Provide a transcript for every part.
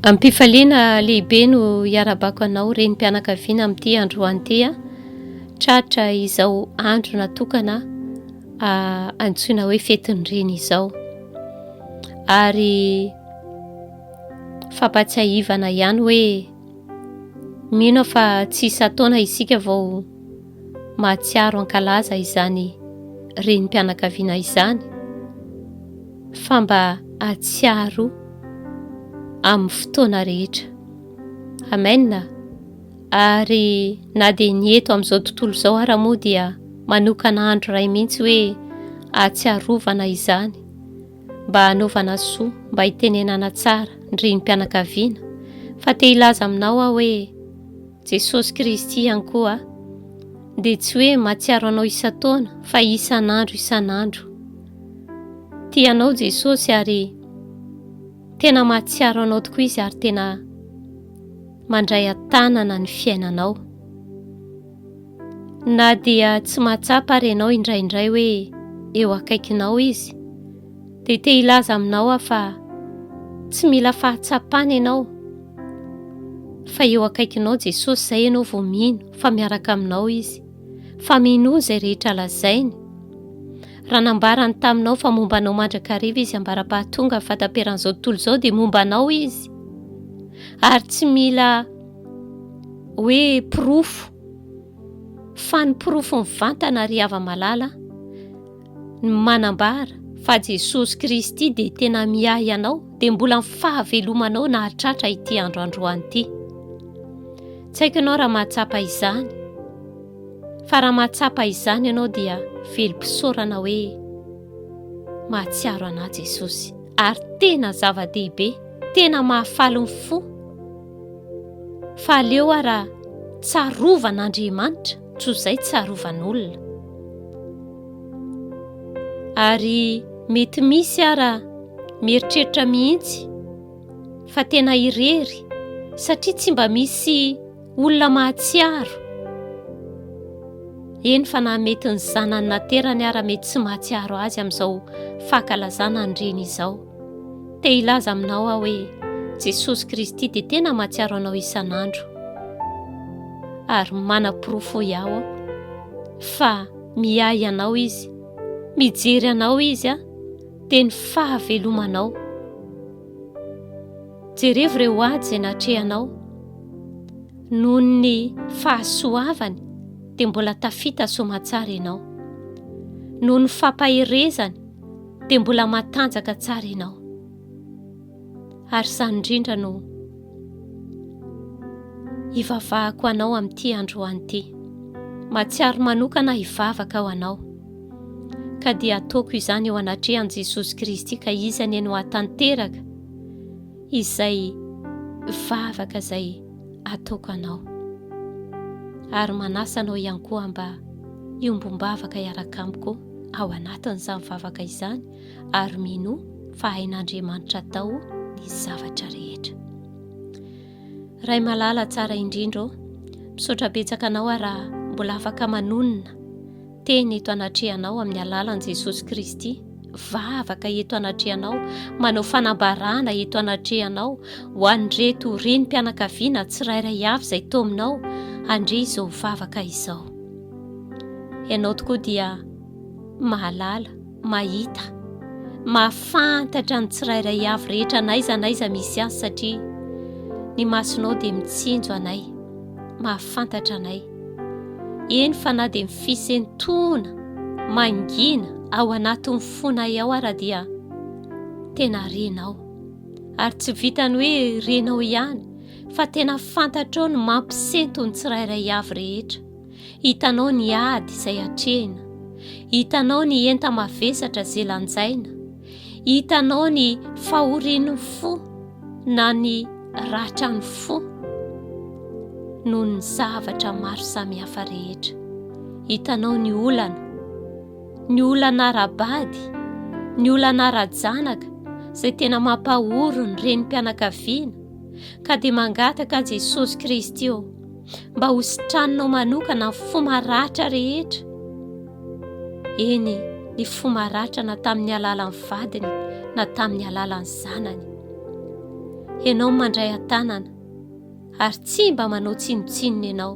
Amim-pifaliana lehibe no iarabako anao renim-pianakaviana amin'ity androany ity an. Tratra izao andro natokana antsoina hoe fetin'ny reny izao. Ary fampatsiahivana ihany hoe mino aho fa tsy isan-taona isika vao mahatsiaro hankalaza izany renim-pianakaviana izany fa mba hahatsiaro amin'ny fotoana rehetra. Amen. Ary na dia ny eto amin'izao tontolo izao ara moa dia manokana andro iray mihitsy hoe ahatsiarovana izany mba hanaovana soa mba hitenenana tsara ny renim-pianakaviana fa te hilaza aminao aho hoe Jesosy Kristy ihany koa dia tsy hoe mahatsiaro anao isan-taona fa isan'andro isan'andro. Tia anao Jesosy ary tena mahatsiaro anao tokoa Izy ary tena mandray an-tanana ny fiainanao. Na dia tsy mahatsapa ary ianao indraindray hoe eo akaikinao Izy, Dia te hilaza aminao aho fa tsy mila fahatsapana ianao fa eo akaikinao Jesosy izay ianao vao mino fa miaraka aminao Izy, fa minoa izay rehetra lazainy. Raha nambarany taminao fa momba anao mandrakariva Izy ambara-pahatonga fahataperan'izao tontolo izao dia momba anao Izy. Ary tsy mila hoe porofo fa ny porofo mivantana ry hava-malala, no manambara fa Jesosy Kristy dia tena miahy anao dia mbola ny fahavelomanao nahatratra ity andro androany ity. Tsy haiko ianao raha mahatsapa izany, fa raha mahatsapa izany ianao dia velom-pisaorana hoe mahatsiaro anà Jesosy. Ary tena zava-dehibe, tena mahafaly ny fo. Fa aleo ara tsarovana Andriamanitra Tsy ho zay tsarovan'olona. Ary mety misy ara mieritreritra mihitsy fa tena irery satria tsy mba misy olona mahatsiaro. Eny fa na mety ny zanany naterany ara mety tsy mahatsiaro azy amin'izao fankalazana ny reny izao. Te hilaza aminao aho hoe Jesosy Kristy dia tena mahatsiaro anao isan'andro. Ary manaporofo iaho aho fa miahy anao izy, mijery anao izy aho, dia ny fahavelomanao. Jerevo ireo ady izay natrehanao. Noho ny fahasoavany dia mbola tafita somatsara ianao. Noho ny fampaherezany dia mbola matanjaka tsara ianao ary izany indrindra no hivavahako anao amin'ity androany ity matsiaro manokana hivavaka ao anao ka dia ataoko izany eo anatrehan'i Jesosy Kristy ka izany eny ho atanteraka izay vavaka izay ataoko anao. Ary manasa anao ihany koa mba hiombom-bavaka hiaraka amiko ao anatin'izany vavaka izany ary minoa fa hain'Andriamanitra atao ny zavatra rehetra. Ray malala tsara indrindra ô, misaotra betsaka anao raha mbola afaka manonona Teny eto anatrehanao amin'ny alalan'i Jesosy Kristy, vavaka eto anatrehanao, manao fanambarana eto anatrehanao ho an'ireto renim-pianakaviana tsirairay avy izay tao aminao handre izao vavaka izao. Ianao tokoa dia mahalala. mahita, mahafantatra ny tsirairay avy rehetra n'aiza n'aiza misy azy satria ny masonao dia mitsinjo anay, mahafantatra anay. Eny fa na dia mifisentoana, mangina ao anatin'ny fonay ao ara dia tena renao. Ary tsy vitany hoe renao ihany fa tena fantatrao ny mampisento ny tsirairay avy rehetra. Hitanao ny ady izay atrehina. Hitanao ny enta-mavesatra izay lanjaina. Hitanao ny fahorian'ny fo na ny ratran'ny fo noho ny zavatra maro samihafa rehetra. Hitanao ny olana, ny olana ara-bady, ny olana ara-janaka izay tena mampahory ny renim-pianakaviana ka dia mangataka an'i Jesosy Kristy eo mba ho sitraninao manokana ny fo maratra rehetra. Eny, ny fo maratra na tamin'ny alalan'ny vadiny na tamin'ny alalan'ny zanany. Ianao mandray an-tanana ary tsy mba manao tsinontsinona ianao,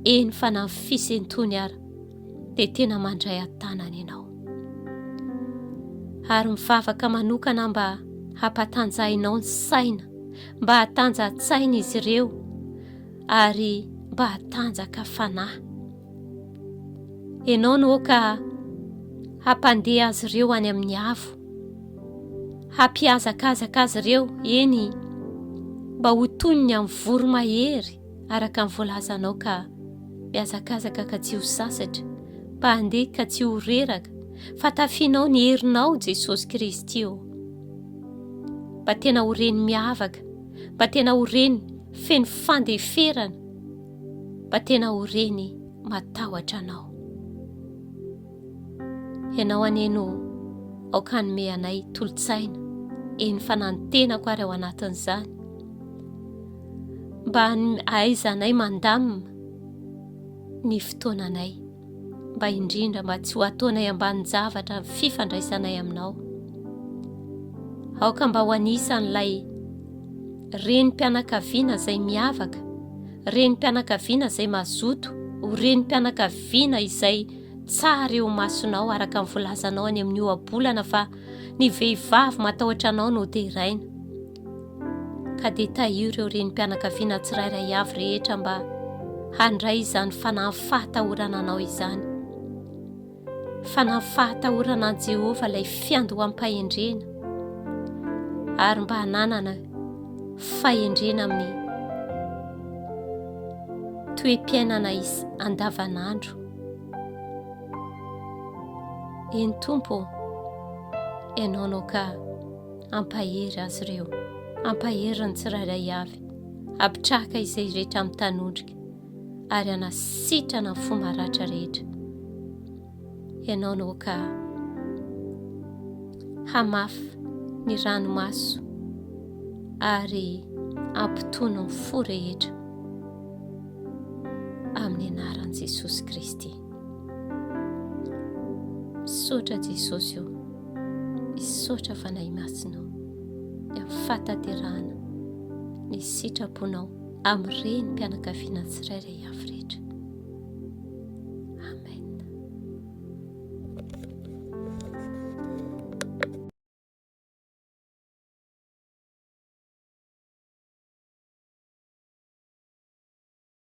eny fa na ny fisentony ara dia tena mandray an-tanana ianao. Ary mivavaka manokana mba hampatanjahinao ny saina mba hatanjantsaina izy ireo ary mba hatanjaka fanahy. Ianao no ka hampandeha azy ireo any amin'ny avo, hampihazakazaka azy ireo, eny, mba ho toy ny amin'ny voromahery araka ny voalazanao ka mihazakazaka ka tsy ho sasatra, mba handeha ka tsy ho reraka, fa tafianao ny herinao Jesosy Kristy ô. Mba tena ho reny miavaka, mba tena ho reny feno fandeferana, mba tena ho reny matahotra anao. Ianao anie no aoka hanome anay tolotsaina, eny fa na ny tenako ary ao anatin'izany. Mba hahaizanay mandamina ny fotoananay. mba indrindra mba tsy ho ataonay ambanin-javatra ny fifandraisanay aminao. Aoka mba ho anisan'ilay renim-pianakaviana izay miavaka, renim-pianakaviana izay mazoto, ho renim-pianakaviana izay tsara eo masonao araka ny volazanao any amin'ny ohabolana fa ny vehivavy matahotra anao no deraina. ka dia tahio ireo renim-pianakaviana tsirairay avy rehetra mba handray izany fanahy fahatahorana anao izany. Fanahy fahatahorana an'i Jehovah ilay fiandoham-pahendrena ary mba hananana fahendrena amin'ny toe-piainana andavanandro. Eny Tompo, ianao no ka Ampahery azy ireo. Ampahery ny tsirairay avy. Apitrahaka izay rehetra mitanondrika ary anasitrana ny fo maratra rehetra. Ianao no ka hamafy ny ranomaso ary ampitony ny fo rehetra amin'ny anaran'i Jesosy Kristy. Misaotra Jesosy ô. Misaotra Fanahy Masina ô. Ny amin'ny fahataterahana ny sitraponao amin'ireny mpianakaviana tsirairay avy rehetra. Amen.